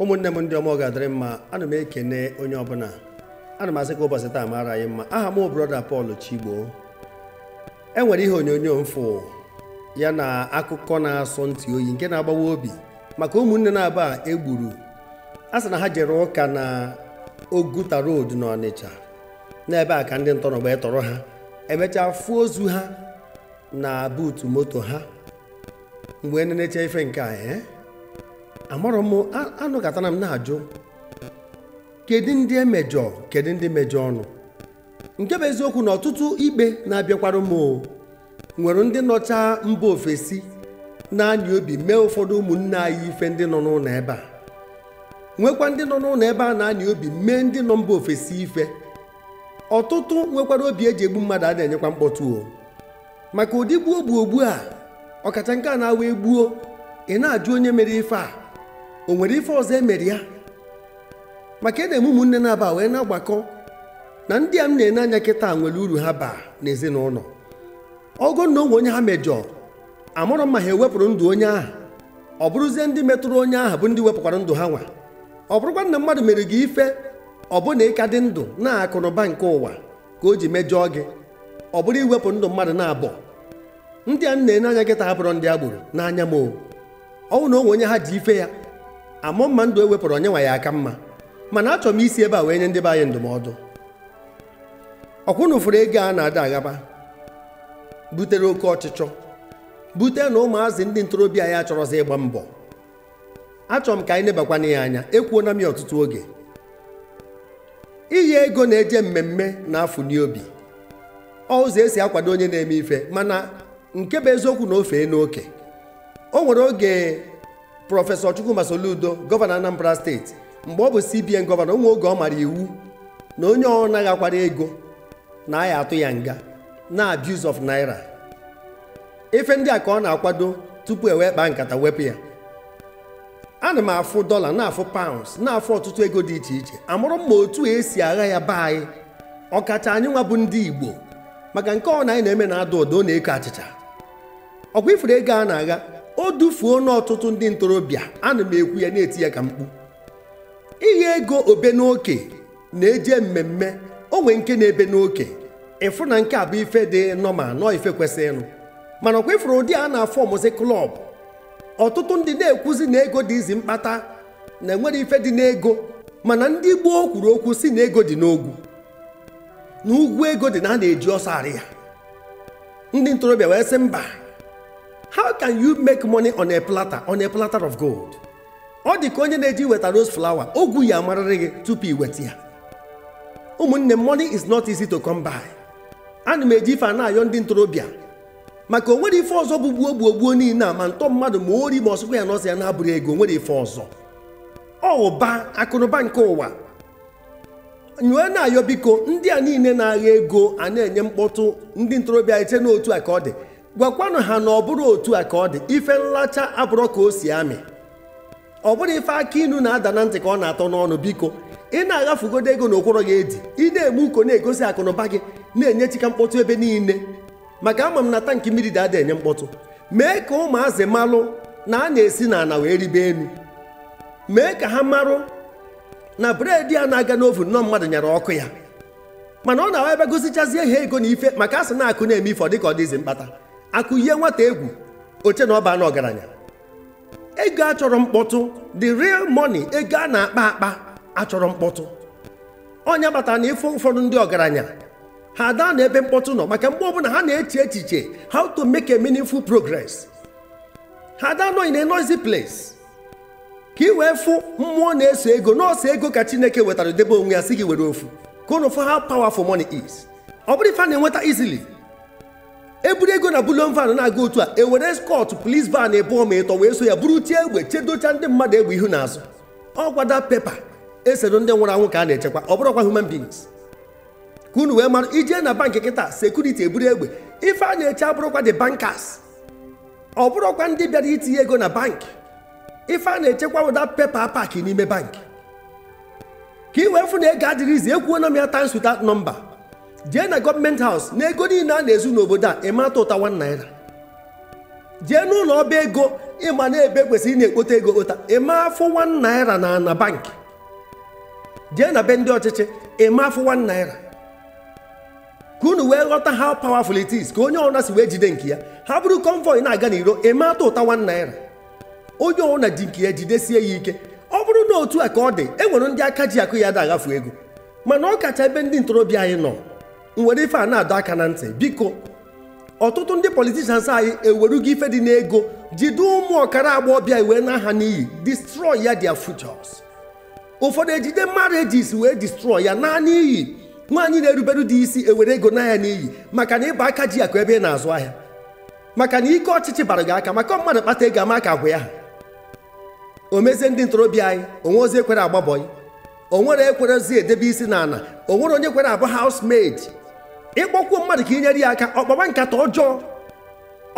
ụmụnne m ndị ọma ọ ga-adịrị mma ana m ekene onye ọbụla ana m asị ka ụbọchị taa mara anyị mma aha m bụ brọda Pọl Chigbo e nwere ihe onyonyo m fụ ya na akụkọ na-asọ ntị oyi nke na-agbawa obi maka ụmụnne naabọ a e gburu a sị na ha jere ụka na Oguta road na Ọnịcha n'ebe a ka ndị ntọ nọ wee tọrọ ha emechaa fụọ ozu ha na buutu moto ha mgbe nenecha ife nke a eh? amarọ m anọkatara m na-ajụ kedu ndị e mejọọ kedu ndị mejọọ ụnụ nke bụ eziokwu na ọtụtụ ikpe na-abịakwara m nwere ndị nọcha mba ofesi na-anya obi mee ụfọdụ ụmụnne anyị ife ndị nọ n'ụnọ ebe a nwekwa ndị nọ n'ụnọ ebe a na-anya obi mee ndị nọ mba ofesi ife ọtụtụ nwekwara obi eji egbu mmadụ a na-enyekwa mkpọtụ o maka ụdị gbuo gbuo ogbu a ọkacha nke a na-abụ e gbuo ị na-ajụ onye mere ife a o nwere ife ọzọ e mere ya maka ị na-ene ụmụnne naabọ a wee na-agbakọ na ndị a m na-ene anya kịta nwere uru ha baa n'ezinụnọ ọ bụ na o nwe onye ha mejọọ amarọ m ma ha ewepụrụ ndụ onye ahụ ọ bụrụzie ndị metụrụ onye ahụ bụ ndị wepụkwara ndụ ha nwa ọ bụrụkwa na mmadụ mere gị ife ọ bụ na ị ka dị ndụ na akụnụba nke ụwa ka o ji mejọọ gị ọ bụrụ iwepụ ndụ mmadụ naabọ ndị a m na-ene anya kịta ha abụrọ ndị agboro n'anya m ọ bụ na o nwe onye ha ji ife ya amarọ m ma ndụ e wepụrụ onye nwa ya-aka mma mana achọrọ m isi ebe a wee nye ndị be anyị ndụmọdụ ọkwa ụnụ fụrụ ego a na-agha agha butere oke ọchịchọ bute na ụmụazị ndị ntorobịa anyị achọrọzi ịgba mbọ achọrọ m ka anyị nebakwa na ya anya ekwuona m ya ọtụtụ oge iyi ego na-eje mmemme na-afụ na ọ bụ ụzọ esi akwado onye na-eme ife mana nke bụ eziokwu na o feena oke o nwere oge prọfesọ Chukwuma Soludo gọvanọ Anambra steeti mgbe ọ bụ CBN gọvanọ o nwe oge ọ mara iwu na onye ọbụna ghakwara ego na a ya-atụ ya nga na abuse of naira ife ndị a ka ọ na-akwado tupu e wee kpaa nkata wepụ ya ana m afụ dọla na-afụ paụns na-afụ ọtụtụ ego dị iche iche amarọ m ma otu esi agha ya be anyị ọkacha anyị nwa bụ ndị igbo maka nke ọbụna anyị na-eme na-ada ụda ọ na-eko achịcha ọkwa ị fụrụ ego a na-agha o dufuona ọtụtụ ndị ntorobịa ana m ekwu ya na-eti ya ka mkpu ịgha ego o bee n'oke na-eje mmemme o nwee nke na-ebe n'oke ị fụ na nke a bụ ife dị normal na ọ bụ ife kwesịrịnụ mana ọkwa ị fụrụ ụdị a a na-afụ ọ bụzi club ọtụtụ ndị na-ekwuzi na ego dị easy mkpata na enwere ife dị n'ego mana ndị gboo kwuru okwu sị na ego dị n'ogwu na ugwu ego dị na a na-eji ọsọ arị ya ndị ntorobịa wee sị mba how can you make money on a platter on a platter of gold ọ dị ka onye na-eje iweta rose flower ogwu ya amarịrị gị tupu i weta ya ụmụnne money is not easy to come by ana m eji ife a na-ayọ ndị ntorobịa maka o nwere ife ọzọ bụ gbuo gbuo gbuo niile a ma ntọ mmadụ ma ori ma ọsụkwa ya na ọsọ ya na-abụrụ ego o nwere ife ọzọ ọ bụ akụnụba nke ụwa m wee na-ayọ biko ndị a niile na-agha ego a na-enye mkpọtụ ndị ntorobịa eche na otu a ka ọ dị gwakwanụ ha na ọ bụrọ otu a ka ọ dị ife nlacha abụrọ ka o si amị ọ bụrọ ife akị inu na-ada na ntị ka ọ na-atọ n'ọnụ biko ị na-aghafugodo ego na ụkwụrụ gị edi ị na-eme uko na-egosi akụnụba gị na-enye chika mkpọtụ ebe niile maka ama m na tankị mmiri dị ada enye mkpọtụ mee ka ụmụazị malụ na a na-esi n'ana wee rịbe enu mee ka ha marụ na bread a na-agha n'oven na ọ mmadụ nyara ọkụ ya mana ọ na-awa ebe gosichazie ha ego na ife maka asị na akụ na-eme ife ọ dịka ọ dị easy mkpata akụ ihe nwata egwu o chee na ọ baana ọgaranya ego achọrọ mkpọtụ the real money ego a na-akpa akpa achọrọ mkpọtụ ọ nya kpatara na ị fụ ụfọdụ ndị ọgaranya ha ada anọ ebe mkpọtụ nọ maka mgbe ọbụla ha na-eche echiche how to make a meaningful progress ha ada anọ in a noisy place ka ị wee fụ mmụọ na-eso ego na ọ sọ ego ka chineke wetara debe onwe ya sị gị were ofu ka unu fụ how powerful money is ọ bụrọ ife a na-enweta easily eburu ego na bullion van na-aga otu a ewere escort police van ịbụọ ma ịtọ wee so ya buru tie egbe chedocha ndị mmadụ egbe ihu na azụ ọkwa that paper esere ndị nwụrụ anwụ ka a na-echekwa ọ bụrọkwa human beings ka unu wee mara i jee na bankị kịta security eburu egbe ife a na-eche abụrọkwa the bankers ọ bụrọkwa ndị bịara itinye ego na bankị ife a na-echekwa wụ that paper a pack n'ime bankị ka ị wee fụ na ego adịrọ easy ekwuona m ya times without number jee na government house na ego niile a na-ezu n'obodo a ị ma atụụta 1 naira jee n'ụlọ ọba ego ị ma na ebe e kwesịrị ịna-ekpote ego ekpote ị ma afụ 1 naira na na bankị jee na be ndị ọchịchị ị ma afụ 1 naira ka unu wee ghọta how powerful it is ka onye ọbụla si wee jide nke ya ha buru convoy na-aga n'iro ị ma atụụta one naira onye ọbụla ji nke ya jidesie ya ike ọ bụrụ na otu a ka ọ dị e nwere ndị aka ji akụ ya ada aghafu ego mana ọ kacha ebe ndị ntorobịa anyị nọ m were ife a na-adọ aka na ntị biko ọtụtụ ndị politicians anyị ewerugo ife dị n'ego jide ụmụ okoro agbọghọbịa wee naa ha n'iyi destroy ya their futures ụfọdụ ejide marriages wee destroy ya naa n'iyi nwaanyị na-erubere di isi ewere ego naa ya n'iyi maka na ị bụ aka ji akụ ebe ị na-azụ ahịa maka na ike ọchịchị bara gị aka maka mmadụ kpata ego ama ka agwa ya o mezie ndị ntorobịa anyị o nwerozi ekwere agba bọị o nwere ekwerezi edebe isi n'ala o nwere onye kwere abụ housemaid ịkpọkwuo mmadụ ka inyere ya aka ọ kpaba nkata ọjọọ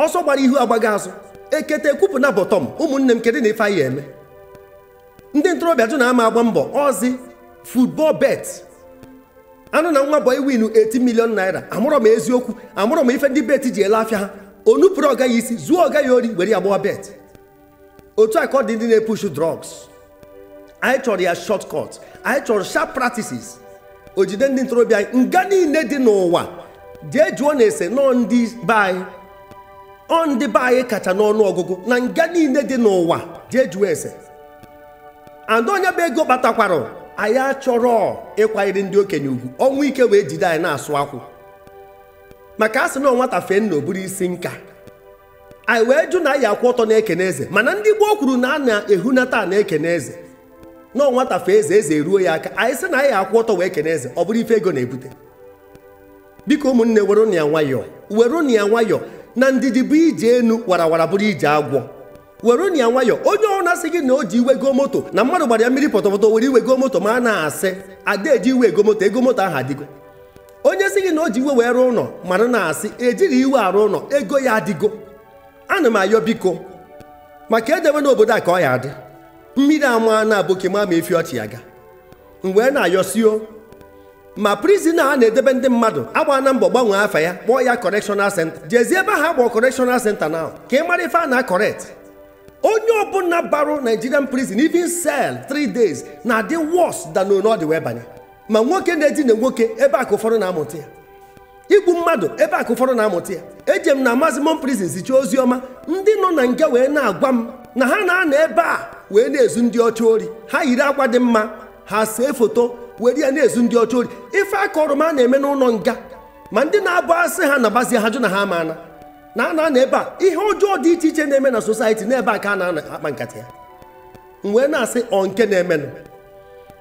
ọsọ gbara ihu agbaghị azụ ekete ekwupụ na bottom ụmụnne m kedu na ife anyị eme ndị ntorobịa jụ na ama agba mbọ ọzi football bet a nụ na nwa bọị winu 80 million naira amarọ ma eziokwu amarọ ma ife ndị bet ji ele afịa ha o nupụrụ ọga ya isi zuo ọga ya ori were ya gbawa bet otu a ka ọ dị ndị na-epushu drugs anyị chọrọ ya shortcut anyị chọrọ sharp practices o jide ndị ntorobịa anyị nga niile dị n'ụwa jee jụọnụ ese na ọ ndị be anyị ọ ndị be anyị kacha n'ọnụ ọgụgụ na nga niile dị n'ụwa jee jụọ ese and onye bụ ego kpatakwara anyị achọrọ ịkwanyere ndị okenye ugwu ọnwụ ike wee jide anyị na-asụ akwụ maka a sị na nwata fee nna o buru isi nka anyị wee jụ na anyị akwụ ọtọ na-ekene eze mana ndị gboo kwuru na a na-ehunata na-ekene eze na nwata fee eze eze eruo ya aka anyị sị na anyị akwụ ọtọ wee kene eze ọ bụrụ ife ego na-ebute biko ụmụnne werenụ ya nwayọọ werenụ ya nwayọọ na ndidi bụ ije enu warawara bụrụ ije agwọ werenụ ya nwayọọ onye ọbụna sị gị na o ji iwe go moto na mmadụ gbara ya mmiri pọtọpọtọ were iwe go moto mara na asị a da eji iwe ego moto ego moto ahụ adịgo onye sị gị na o ji iwe wee rụọ ụlọ mara na asị ejighị iwe arụ ụlọ ego ya adịgo ana m ayọ biko maka edebe n'obodo a ka ọ ya adị mmiri ama na aboki ma ma efi ọchị ya ga m wee na-ayọ sị ọ ma prison a na-edebe ndị mmadụ a gbaana mbọ gbanwee afa ya kpọọ ya correctional center jeezie ebe ha kpọọ correctional center now ka ị mara ife a na-acorrect onye ọbụla barụ Nigerian prison even cell 3 days na-adị worse than ọ dị wee banye ma nwoke na-edina nwoke ebe a ka ụfọdụ na-amụta ya igbu mmadụ ebe a ka ụfọdụ na-amụta ya ejee m na maximum prison zichaa ozi ọma ndị nọ na nga wee na-agwa m na ha na-anọ ebe a wee na-ezu ndị ọcha ori ha yiri akwa dị mma ha see foto were ya na-ezu ndị ọcha ori ife a kọọrọ m a na-eme n'ụlọ nga ma ndị na-abụ a sị ha nabazie ha jụ na ha ama ana na ha na-anọ ebe a ihe ọjọọ dị iche iche na-eme na society n'ebe a ka a na-akpa nkata ya m wee na-asị ọ nke na-emenụ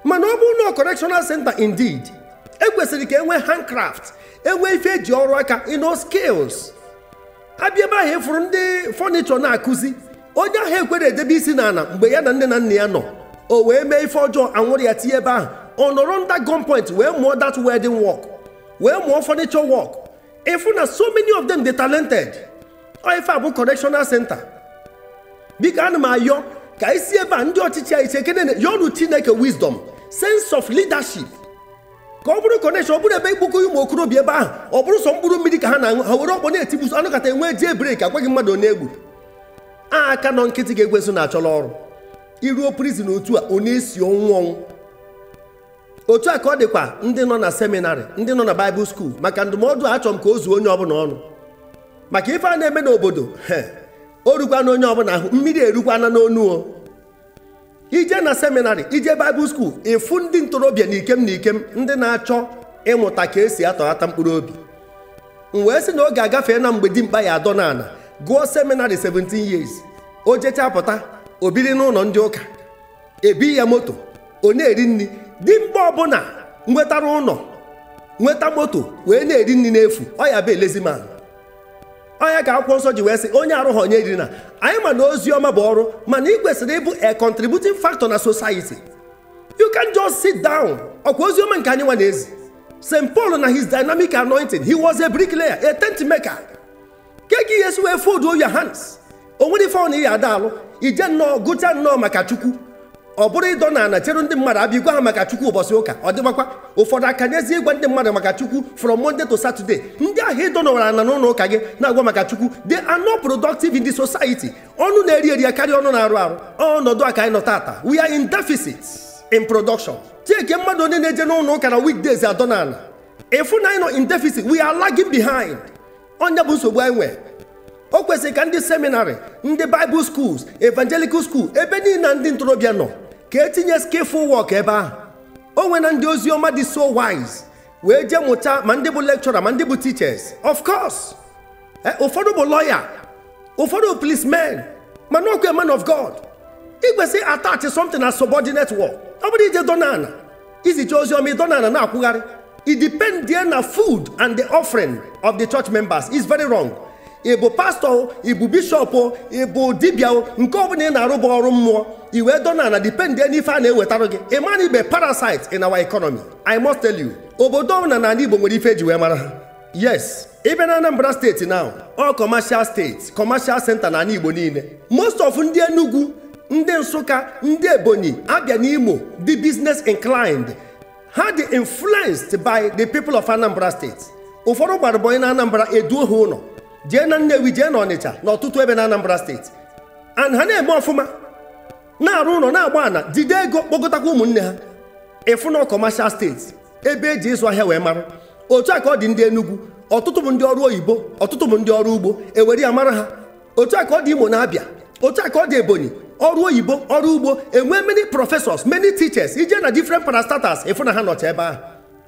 mana ọ bụrụ na correctional center indeed ekwesịrị ka enwee handcraft enwee ife eji ọrụ aka you know skills a bịa ebe ahụ ị fụrụ ndị furniture na-akụzi onye ahụ ekwere edebe isi n'ala mgbe ya na nne na nna ya nọ o wee mee ife ọjọọ a nwụrụ ya tinye ebe ahụ ọ nọrọ under gunpoint wee mụọ that welding work wee mụọ furniture work ịfụ na so many of them dey talented ọ ife a bụ correctional center biko ana m ayọ ka isi ebe a ndị ọchịchị anyị chekene yọrụ chineke wisdom sense of leadership ka ọ bụrụ correction ọ bụrụ ebe ikpokọ ụmụ okorobịa ebe ahụ ọ bụrụ sọ mkpụrụ mmiri ka ha na-aṅụ ha were ọkpọ na-etigbuso anụkata enwee jail break agwaghị mmadụ onye egbu a aka nọ nkịtị ka ekwensu na-achọrọ ọrụ iruo prizin otu a ọ na-esi ọnwụ ọnwụ otu a ka ọ dịkwa ndị nọ na seminarị ndị nọ na baịbụl skuul maka ndụmọdụ a achọrọ m ka o zuo onye ọbụla ọnụ maka ife a na-eme n'obodo o rukwana onye ọbụla ahụ mmiri erukwana n'onu o ije na seminarị ije baịbụl skuul ịfụ ndị ntorobịa na ikem na ikem ndị na-achọ ịmụta ka esi atọghata mkpụrụ obi m wee sị na oge agafeena mgbe dimkpa ya adọ n'ala gụọ seminarị 17 years o jechaa pụta o biri n'ụlọ ndị ụka ebi ya moto ọ na-eri nri dimkpa ọbụla nwetara ụlọ nweta moto wee na-eri nri n'efu ọ ya bụ a lazy man ọ nya ka akwụkwọ nsọ ji wee sị onye arụghị nya erina anyị ma na ozi ọma bụ ọrụ mana ị kwesịrị ịbụ a contributing factor na society you can't just sit down ọkwa ozi ọma nke anyị nwa na-ezi St. Paul na his dynamic anointing he was a bricklayer a tent maker kee ka ị ya-esi wee fold your hands o nwerọ ife ọbụla ị ya na-alụ ije nnọọ gụcha nnọọ maka chukwu ọ bụrụ ịdọ na ana chere ndị mmadụ abịa igwa ha maka chukwu ụbọchị ụka ọ dịgbakwa ụfọdụ akanyezie ịgwa ndị mmadụ maka chukwu from monday to saturday ndị ahụ ịdọ nọwara ana n'ụlọ ụka gị na-agwa maka chukwu they are not productive in the society ọnụ na-eri eri akarịa ọnụ na-arụ arụ ọnọdụ a ka anyị nọ tata we are in deficit in production chekie mmadụ one na-eje n'ụlọ ụka na weekdays adọ na ana ịfụ na anyị nọ in deficit we are lagging behind ọ nya bụ nsogbu anyị nwee o kwesịrị ka ndị seminarị ndị baịbụl skuls evangelical skuul ebe niile ndị ntorobịa nọ ka etinye skillful work ebe ahụ o nweena ndị ozi ọma dị so wise wee jee mụta ma ndị bụ lekchọra ma ndị bụ teachers of course eh, ụfọdụ bụ lọya ụfọdụ bụ policemen mana ọkwa man of god ị kwesịrị attach something as subordinate work ọ bụrọ ije dọ n'ala izicha ozi ọma ịdọ ana na-akwụgharị idipendie na food and the offering of the church members is very wrong ịbụ pastọ ịbụ bishọp ịbụ dibịa nke ọbụla ị na-arụ bụ ọrụ mmụọ i wee dọ n'ana dipendị n'ife a na-ewetara gị ị mana ị bụ parasite in our economy i must tell you obodo ọbụla na ala igbo nwere ife eji wee mara ha yes ịbịa na Anambra steeti na ọ kọmashal steeti kọmashal senta na ala Igbo niile most of ndị Enugu ndị Nsụka ndị Ebonyi Abịa na Imo dị business inclined ha dị influenced by the people of Anambra steeti ụfọdụ gbara bọyị na Anambra eduo ha ụlọ jee na Nnewi jee na Ọnịcha na ọtụtụ ebe na Anambra steeti and ha na-eme ọfụma na-arụ ụlọ na-agba ana jide ego kpọgotakwa ụmụnne ha ịfụ na commercial state ebe eji ịzụ ahịa wee mara otu a ka ọ dị ndị Enugu ọtụtụ bụ ndị ọrụ oyibo ọtụtụ bụ ndị ọrụ ugbo ewere ya mara ha otu a ka ọ dị Imo na Abia otu a ka ọ dị Ebonyi ọrụ oyibo ọrụ ugbo enwe many professors many teachers ije na different parastatals ịfụ na ha nọcha ebe ahụ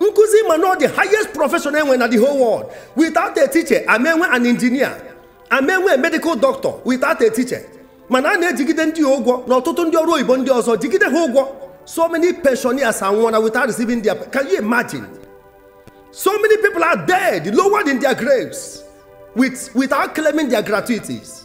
nkuzi ma na the highest profession enwe na the whole world without a teacher ama enwe an engineer ama enwe a medical doctor without a teacher mana a na-ejigide ndị a ụgwọ na ọtụtụ ndị ọrụ oyibo ndị ọzọ jigide ha ụgwọ so many pensioners anwụọna without receiving their can you imagine so many people are dead lowered in their graves with, without claiming their gratuities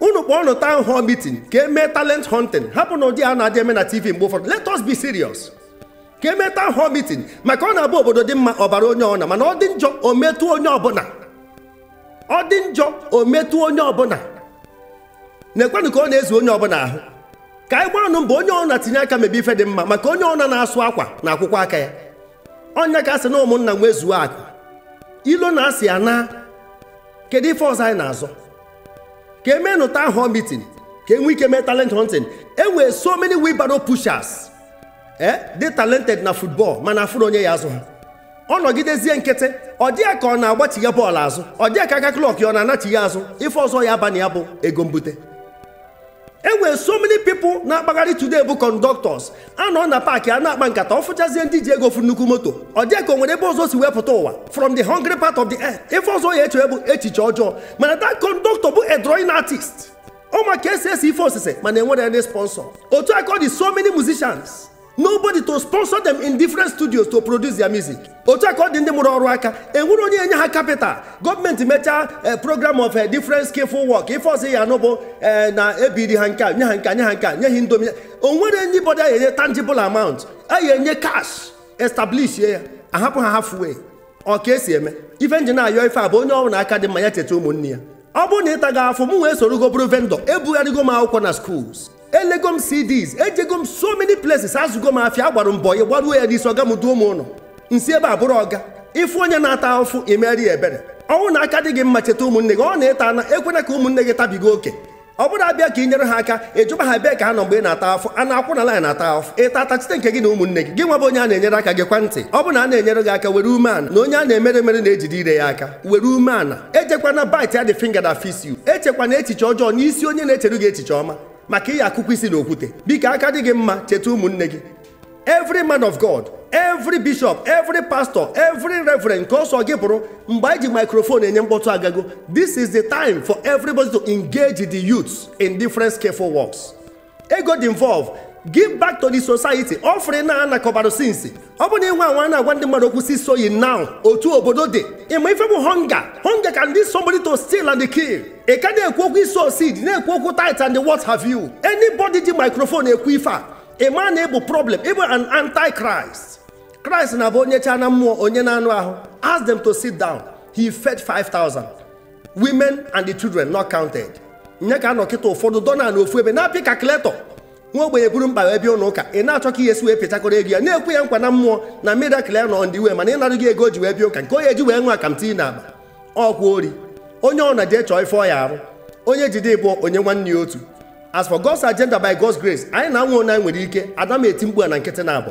unu kpọọnụ town hall meeting ka emee talent hunting hapụnụ ụdị a na-adị eme na tv mgbe ụfọdụ let us be serious ka emee town hall meeting maka ọ na-abụ obodo dị mma ọ baara onye ọna mana ọ dị njọ o metụ onye ọbụna ọ dị njọ o metụ onye ọbụna neekwanụ ka ọ na-ezu onye ọbụna ahụ ka anyị gbaanụ mbọ onye ọna tinye aka mebe ife dị mma maka onye ọna na-asụ akwa na-akwọkwọ aka ya ọ ya ka asị na ụmụnna nwezuo akụ ilo na asị anaa kedu ife ọzọ anyị na-azọ ka emenụ town hall meeting ka enwe ike mee talent hunting enwere so many wheelbarrow pushers eh dị talented na football mana afụrọ onye ya-azụ ha ọ nọgidezie nkịtị ọ dị ya ka ọ na-agbachigha bọọlụ azụ ọ dị ya ka aka clock ya ọ na-anachigha azụ ife ọzọ ya aba na ya bụ ego mbute e nwere so many people na-akpagharị today bụ conductors a nọ na paakị a na-akpa nkata ọ fụchazie ndị ji ego fụ nnukwu moto ọ dị ya ka o nwere ebe ọzọ o si wee pụta ụwa from the hungry part of the earth ife ọzọ ya eche bụ echiche ọjọọ mana that conductor bụ a drawing artist ọ ma ka esi ese ife osise mana enwerọ any sponsor otu a ka ọ dị so many musicians nobody to sponsor them in different studios to produce their music otu a ka ọ dị ndị mụrụ ọrụ aka enwerọ onye enye ha capital gọọmenti mechaa eh, program of eh, different skillful work ife ọzọ ya anụ bụ eh, na ebiri ha nke a nye ha nke a nye ha nke a nye ha indomi o nwerọ anybody a enye tangible amount a ya enye cash establish ya ahapụ ha halfway ọ ka esi eme ife nji na-ayọ ife a bụ onye ọbụna aka dị mma ya cheta ụmụnne ya ọ bụrụ na ịta afụfụ mụwa esorogo bụrụ vendor ebugharịgo m akwụkwọ na schools elego m cds ejego m so many places azụgo m afịa agbara m boy gbaruo ya n'isi ọga m duo m ụlọ nsi ebe a bụrụ ọga ịfụ onye na-ata afụfụ imeere ya ebere ọ bụrụ na aka dị gị mma cheta ụmụnne gị ọ na-ata na ekwena ka ụmụnne gị tabiga oke ọ bụrọ abịa ka ị nyere ha aka ịjụba ha bee ka ha nọ mgbe ị na-ata afụfụ a na-akwụ na line ata afụfụ ịta atachite nke gị na ụmụnne gị gị nwa bụ onye a na-enyere aka gekwa ntị ọ bụ na a na-enyere gị aka were ume ana na onye a na-emere emere na-ejide ire ya aka were ume ana ejekwana bite ya the finger that feeds you echekwana echiche ọjọọ n'isi onye na-echeru gị echiche ọma maka ị ya-akụkwọ isi na okwute biko aka dị gị mma cheta ụmụnne gị every man of god every bishop every pastor every reverend nke ọ sọ gị bụrụ mgbe anyị ji microphone enye mkpọtụ agago this is the time for everybody to engage the youths in different skillful works ego dị involved give back to the society offering a na-anakọbara since ọ bụ na ịnwe anwa na-agwa ndị mmadụ okwu seed sowing now otu obodo dị ị ma ife bụ hunger hunger can lead somebody to steal and kill ị ka na-ekwu okwu i sow seed na-ekwu okwu tithe and what have you anybody ji microphone ekwu ife a ị ma na ị bụ problem ị bụ an antichrist christ na-abụ o nyechaa na mmụọ o nye n'anụ ahụ ask them to sit down he fed 5000 women and the children not counted nye ka a nọ kịta ụfọdụ dọ na ofu ebe na-apị calculator nwa ogbenye buru mkpa ya bịa ụlọ ụka ị na-achọ ka ị ya-esi wee pịchakọrọ ego ya na-ekwe ya nkwa na mmụọ na miracle ya nọ on the way mana ị nara ego o ji wee bịa ụka nke ọ ya-eji wee nwa akamti na agba ọkwa ori onye ọbụna jee chọọ ife ọ ya-arụ onye jide ịbụọ o nye nwanne ya otu as for God's agenda by God's grace anyị na-anwa nke anyị nwere ike ada m eti mkpu a na nkịtị na abụ